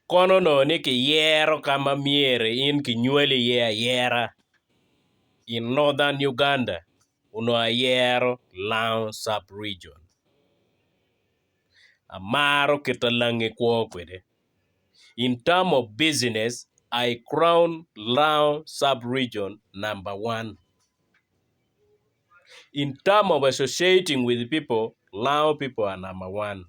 Kono onongo ni kiyero ka ma myero in kinywali iye ayera. I Northern Uganda onongo ayero Lango sub region amaro kita lange kwo kwede in term of business I crown Lango sub region number one. in term of associating with people lango people are number one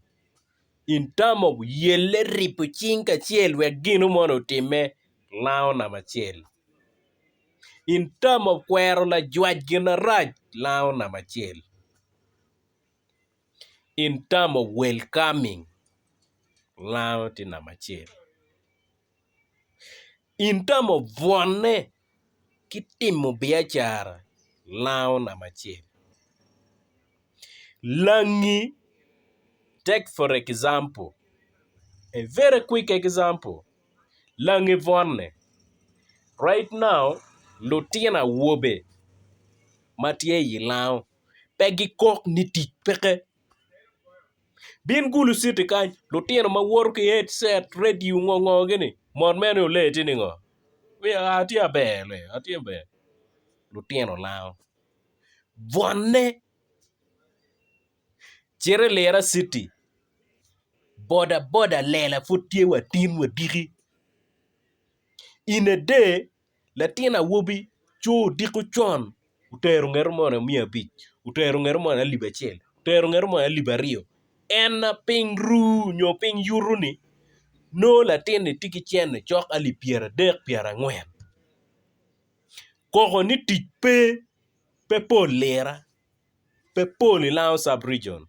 in term of yelle ribo cing kacel wek gino moni otime lango namba acel in term of kwero lajwac gin marac lango namba acel in term of welcoming lango tye namba acel. In tamo bwone ki timo biacara lango namba acel. Langi take for example a very quick example langi bwone right now lutino awobe ma tye i lango pe gikok ni tic peke. Bin gulu citi kany, lutino ma woto ki headset, radio, ngo ngo gini, mot mere ni olee tye ningo? Wiya aa atye aber le atye ber lutino lango bwonne cito i lira citi boda boda lela pud tye wa tin wa diki in a day Latin awobi coo odiko con otero ngeto moni miya abic otero ngeto moni alip acel otero ngeto moni alip aryo en ma piny ru nyo piny yuto ni nongo latin ni tye ki cene cok alip pyeradek pyerangwen koko ni tic pe, pe pol lira pe pol i Lango cabregion.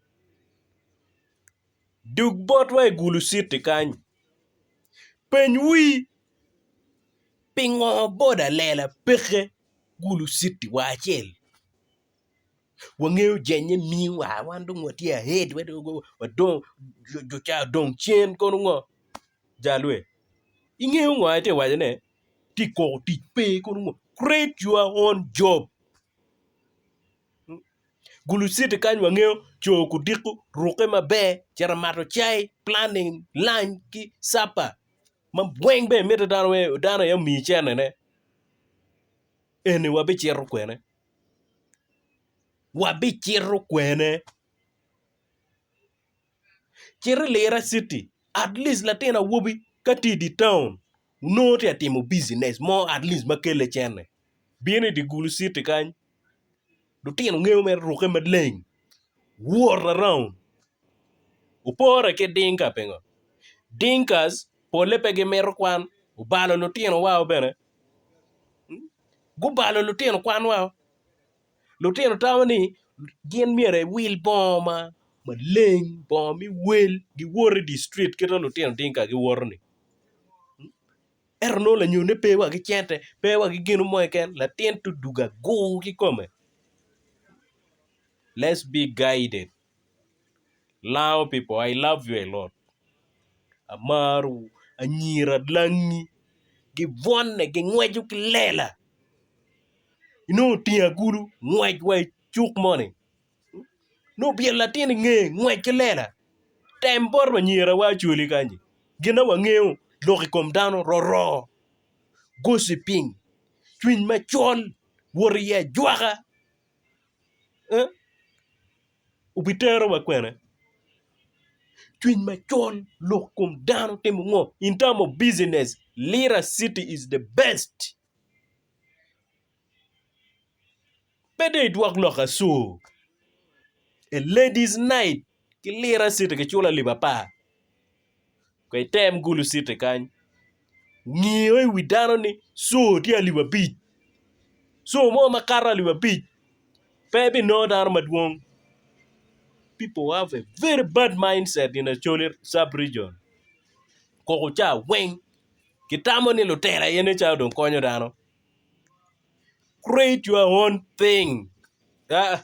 Dug botwa i Guluciti kany. Peny wii, Pingo boda lela peke Guluciti wa acel? Wangeyo jennye miyo wa wan dong watye ahead wadong jo ca odong cen kono ngo? Jalwe, ingeyo ngo aye tye wacone? Tye koko tic pe kono ngo? Create your own job. Gulu citi kany wangeyo coo kudiko ruke maber cito mato cai planning lunch ki supper ma weng bene mitte dano weng dano aye omiyi cene ne eni wabicito kwene wabicito kwene. Cit i Lira Citi, at least latin awobi ka tye i dye taun onongo tye ka timo business mo at least ma kelle cene bino i dye Gulu Citi kany lutino ngeyo mere ruke maleng wot around opore ki Dinka pingo Dinkas pole pe gimito kwan obalo lutino wa bene gubalo lutino kwan wa Lutino tamo ni gin myero ewil bongo ma maleng bongo me wel giwot idye cit kit ma lutino tinka giwoto-ni ento nongo lanyone pe wa ki cente pe wa ki gin mo keken latin tudugo agur kikome let's be guided. Lango people I love you a lot amarowu anyira langi gibwone gingweco ki lela inongo otingo agulu ngwec wa i cuk moni nongo obyelo latin inge ngwec ki lela tem bot anyira wa ocwali kany gin ma wangeyo lok ikom dano roro gociping cwiny macol wot i ajwaka. obitero wa kwene cwiny macol lok kom dano timo ngo in term of business lira city is the best pe dong idwok lok acu a ladies night ki lira city kiculo alip apar Kong item gulu citi kany, ngiyo i wi dano ni co tye alip abic, co mo ma kato alip abic pe ebinongo dano madwong. People have a very bad mindset in Acholi sub region, koko ca weng gitamo ni lutela aye nen calo dong konyo dano. Create your own thing aa.